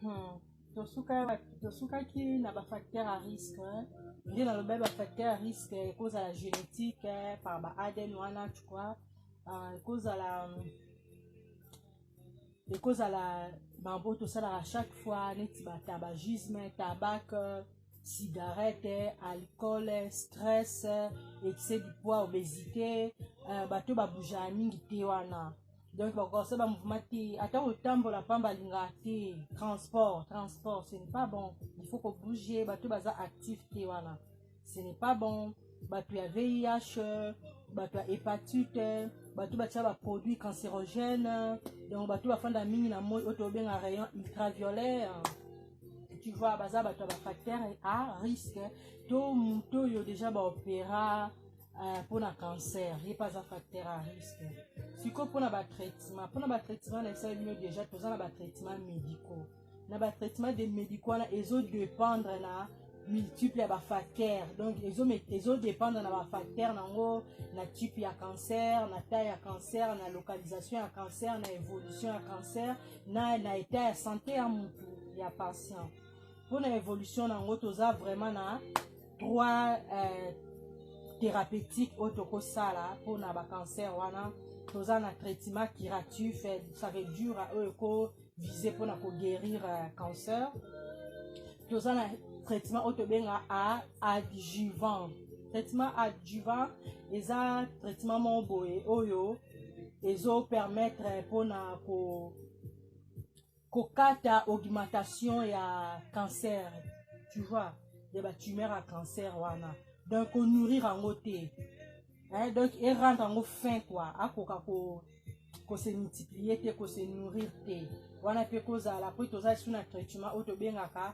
Hmm. tosukaki na bafacteur ya risque nde nalobaki bafacteur ya risque ekozala génétique par ba adn wana tu crois euh, ekozala ekozala bango tosalaka chaque fois neti batabagisme tabac cigarette alcool stress excès du poids obésité euh, bato babougeaka mingi te wana donc bakosa ba mouvement te ata kotambola mpamba alingaka te transport transport ce n'est pas bon il faut kobouge bato baza actif te wana ce n'est pas bon bato ya vih bato ya hepatite bato batya baproduit cancérogène donc bato bafanda mingi na moi oyo tobenga rayon ultraviolet tu vois baza bato ya bafacteur a risque to moto oyo déjà baopéra Ah, mpo na cancer ye mpe aza facteur à risque sikoyo mpo na batraitement mpo na batraitement na esali bino déjà toza na batraitement médicaux na batraitement de médicaux wana ezo dépendre na multiple ya bafacteur donc ezodépendre na bafacteur nango na type ya cancer na taille ya cancer na localisation ya cancer na évolution ya cancer na, na état ya santé ya mutu ya patient mpo na évolution na yango toza vraiment na trois euh, thérapeutique oyo tokosala mpo na bacancer wana toza na traitement curatif eh, ça veut dire euh, oyo ekovise mpo na koguérir euh, cancer toza na traitement oyo tobenga a adjuvant traitement adjuvant eza traitement moko boye oyo ezopermettre mpo na ko kokata augmentation ya cancer tu vois ya batumeur ya cancer wana donc konourrir yango te eh, donc erendre yango fin kua akoka ko kose multiplier te kose nourrir te wana mpe kozala mpo toza lisu na traitement oyo tobengaka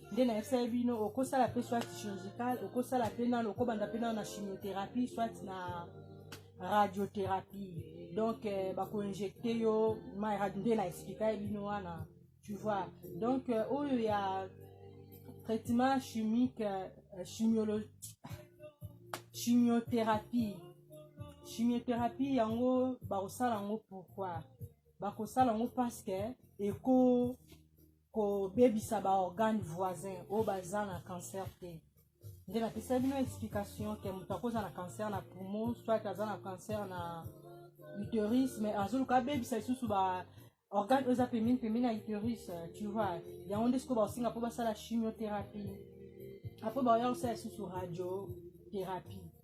nde nayebisaki bino okosala mpe soit chirurgical okosala mpe nano okobanda mpe nano na chimiothérapie soit na radiothérapie donc euh, bakoinjecte yo mai radio nde na explikai bino wana tu vois donc euh, oyo ya traitement chimique euh, chimiolo chimiothérapie chimiothérapie yango bakosala yango pourquoi bakosala yango parce que eko kobebisa baorgane voisin oyo baza na cancer te nde napesaki bino explication ke moto akoza na cancer na poumon soit aza na cancer na uterus mais azoluka abebisa lisusu ba organe oyo eza pembeni pembeni ya uterus tu vois yango nde sikoyo bakosenga mpo basala chimiothérapie apo baoya kosala lisusu radiothérapie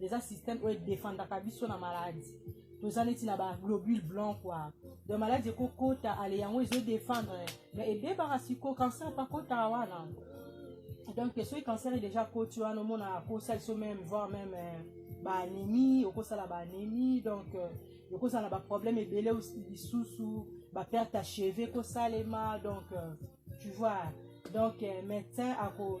eza système oyo edefendaka biso na maladi toza neti na baglobule blanc kua donc maladi ekokota ale yango ezodefendre mais ebebaka siko cancer pakotaka wana donc soki cancer e déjà koti wana omonaka kosala biso meme voir meme euh, baanémie okosala baanémie donc euh, okozala na baproblème ebele lisusu baperte ya cheve ekosalema donc euh, tu vois donc médecin ako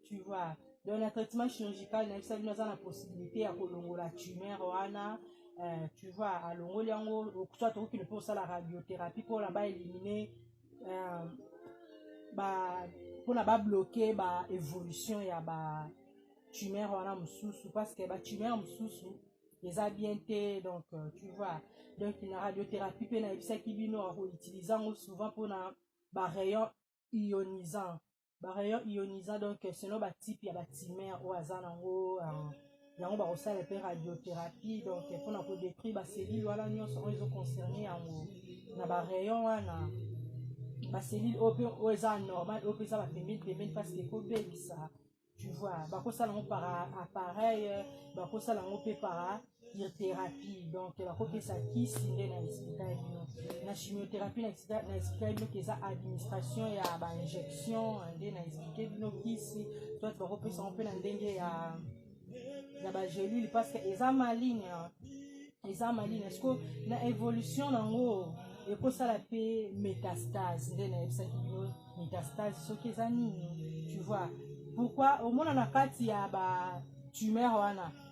tu vois donc na traitement chirurgical na yebisa bino aza na possibilité ya kolongola tumeur wana euh, tu vois alongoli yango soit okokende mpe osala radiothérapie mpo na baélimine euh, ba mpo na babloke ba évolution ya ba tumeur wana mosusu parce que ba tumeur mosusu eza bien te donc euh, tu vois donc na radiothérapie mpe nayebisaki bino akoutilize yango souvent mpo na ba rayon ionisant ba rayon ioniza donc selon ba type ya ba timer oyo aza nango uh, yango bakosala mpe radiothérapie donc mpo na kodétruire baselile wana nyonso oyo ezoconcerne yango na barayon wana baselile oyo mpe oyo eza normal oyo mpe eza bapembeni pembeni parce que ekobebisa tu vois bakosala yango par appareil bakosala yango mpe par chimiothérapie donc bakopesa kisi nde na explika bino na chimiothérapie na explika bino ke eza administration ya bainjection nde na explike bino kisi soit bakopesa yango mpe na ndenge ya ya bagelule parce que eza maligne eza maligne siko na évolution nango ekosala mpe métastase nde nayebisaki bino métastase soki eza nini tu vois pourquoi omona na kati ya ba tumeur wana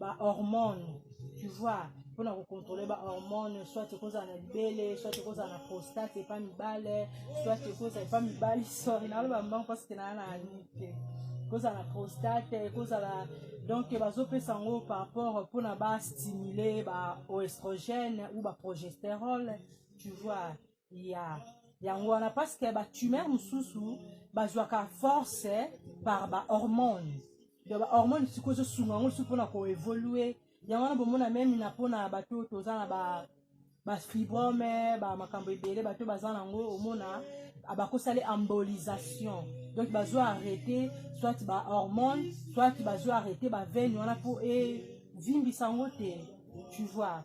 ba hormone tu vois mpona kocontrole ba hormone soit ekozala na libele soit ekozala na prostate epa mibale soit ekozala epa mibali sorry naloba mbango parce que naa na anike te ekozala na prostate ekozala donc bazopesa yango par rapport mpona bastimule ba oestrogène ou ba progesterole tu vois ya yango wana parce que ba tumeur mosusu bazwaka force par ba hormone donc ba hormone sikoyo ezosunga yango lisusu mpona koevolue yango wana bomona meme na mpona bato oyo toza na ba bafibrome ba makambo ebele bato baza nango omona bakosali embolisation donc bazwa arrete soit ba hormone soit bazwa arrete ba veine wana mpo evimbisa yango te tu vois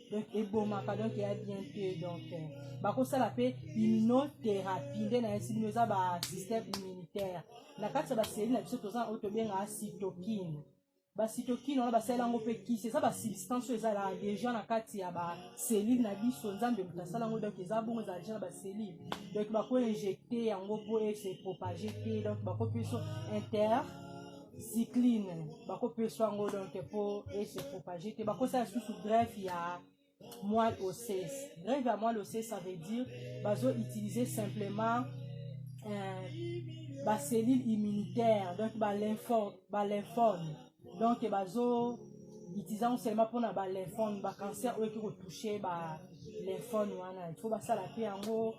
donc ebomaka donc eya bien te donc euh, bakosala mpe immunotherapie nde nayesi bino eza basystème immunitaire na kati ya baseli na biso toza oyo tobengaka cytokine basitokine wana basalela yango mpe kisi eza basubstance oyo ezalaka deja na kati ya baselile na biso nzambe moto asala yango donc eza bongo ezala deja na baselile donc bakoinjecte yango mpo ese propage te donc bakopeso inter cycline bakopesa yango donc mpo ese propage te bakosala lisusu greffe ya moelle osseuse greffe ya moelle osseuse ça veut dire bazo utiliser simplement euh, bacellule immunitaire donc balymphomes ba donc bazo utiliser yango seulement mpona balymphomes bacancer oyo eki kotouche balymphomes wana il faut basala mpe yango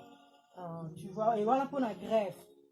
euh, tu vois e wana mpona greffe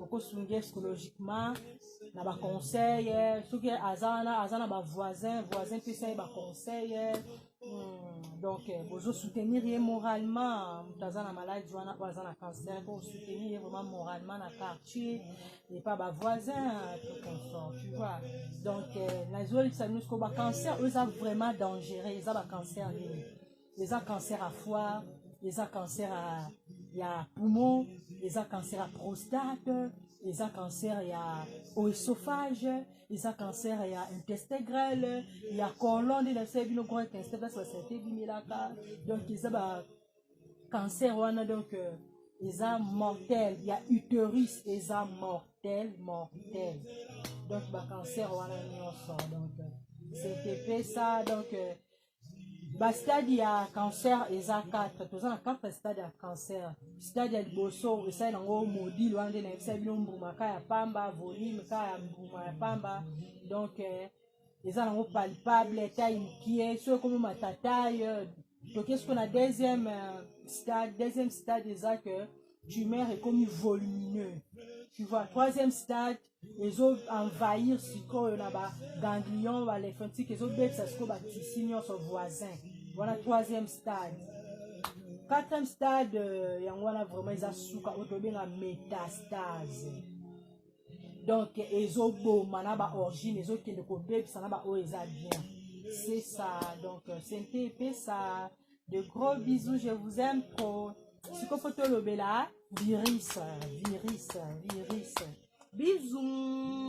okosunga ye psychologiquement na baconseil soki aza wana aza na bavoisin voisin pesa ye baconseil hmm, donc eh, bozosoutenir ye moralement moto aza na maladi wana oyo aza na cancer po osoutenir ye vraiment moralement na quartier epa bavoisin tout consort tu vois donc eh, nazolisa biso ko bacancer oyo eza vraiment dangereux eza bacancer nini eza cancer ya foire eza cancer ya, ya poumon eza cancer ya prostate eza cancer ya oesophage eza cancer ya intestin grele ya colon nde nabisa bino grand intestin place basante ebimelaka donc eza ba cancer wana donc euh, eza mortel ya uterus eza mortel mortel donc bacancer wana nyonso donc euh, ctp ça donc euh, ba stade ya cancer eza 4 toza na 4 stade ya cancer stade ya liboso esali nango modile wana nde nayebisa bino mbuma ka ya pamba volume ka ya mbuma ya pamba donc eh, eza nango palpable tai mokie soki ekomi matataille toke siko na deuxième euh, stade deuxième stade eza que tumeur ekomi volumineux tu vois troisième stade ezo envahir sikoyo na ba ganglion ba lymphatique ezobebisa sikoyo ba tisi nyonso voisin wana troisième stade quatrième stade euh, yango wana vraiment eza suka oyo tobenga métastase donc ezoboma na ba origine ezokende kobebisa na baoyo eza bien c'est ça donc euh, sente epesa de gros bisous je vous aime trop sikoyo mpo tolobela virus virus virus bisous